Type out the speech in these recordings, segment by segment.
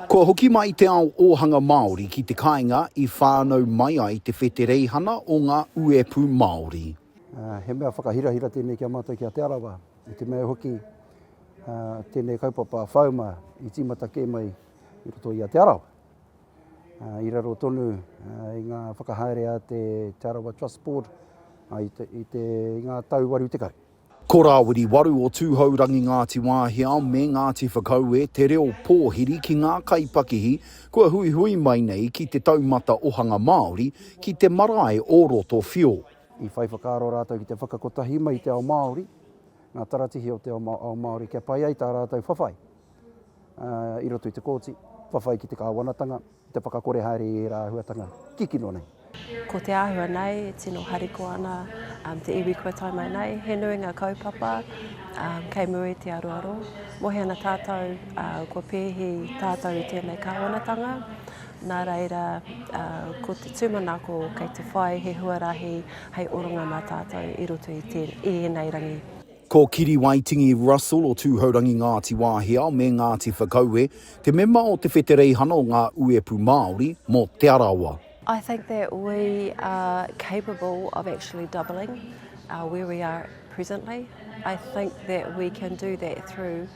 Kua hoki mai te ao ōhanga Māori ki te kāinga i whānau mai ai te whetereihana o ngā uepū Māori. He mea whakahirahira tēnei ki a mātou ki a Te Arawa, i te mea hoki tēnei kaupapa whauma i tīmata kē mai i roto i a Te Arawa. I raro tonu i ngā whakahaere a te Te Arawa Trust Board i ngā tau waru tekau. Ko Rāwiri Waru o Tūhourangi Ngāti Wāhiao me Ngāti Whakaue te reo pōhiri ki ngā kaipakihi kua huihui mai nei ki te taumata ohanga Māori ki te marae o Roto Whio. I whai whakaaro rātou ki te whakakotahi mai i te ao Māori, ngā taratihi o te ao Māori kia pai ai tā rātou whawhai i roto i te kōti, whawhai ki te kāwanatanga, Te whakakore haere i ērā āhuatanga kikino nei. Ko te āhua nei, e tino harikoa ana te iwi kua tae mai nei. He nui ngā kaupapa kei mua i te aroaro. Mohi ana tātou kua pēhi tātou i tēnei kāwanatanga. Nā reira, ko te tūmanako kei te whai he huarahi hei oranga mā tātou i roto i ēnei rangi. Ko Kiriwaitingi Russell o Tūhourangi Ngāti Wāhiao me Ngāti Whakaue te mema o te Whetereihana o ngā Uepu Māori mō Te Arawa. I think that we are capable of actually doubling where we are presently. I think that we can do that through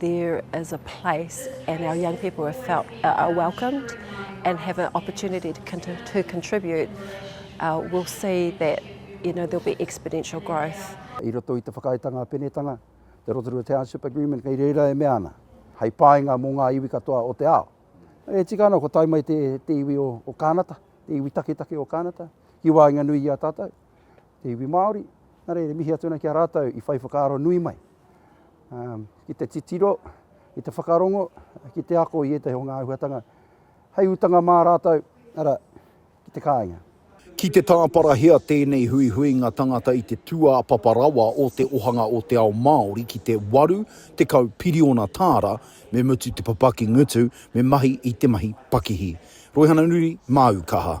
There is a place and our young people have felt uh, are welcomed and have an opportunity to, to contribute. Uh, we'll see that you know, there'll be exponential growth. I roto i te whakaaetanga penetanga, te Rotorua Township Agreement, kei reira e mea ana, hei pāinga mō ngā iwi katoa o te ao. E tika ana, ko tai mai te, te iwi o, o Kānata, te iwi taketake o Kānata, ki wāinga nui i a tātou. te iwi Māori, nā reira mihi atu ana ki a rātou i whai whakaaro nui mai ki te titiro, ki te whakarongo, ki te ako i ētahi o ngā āhuatanga hei utanga mā rātou, arā, ki te kāinga. Ki te tāparahia tēnei huihuinga tangata i te tūāpapa rawa o te ohanga o te ao Māori ki te 80 piriona tāra, me mutu te papaki ngutu, me mahi i te mahi pakihi. Roihana Nuri, Māu Kaha.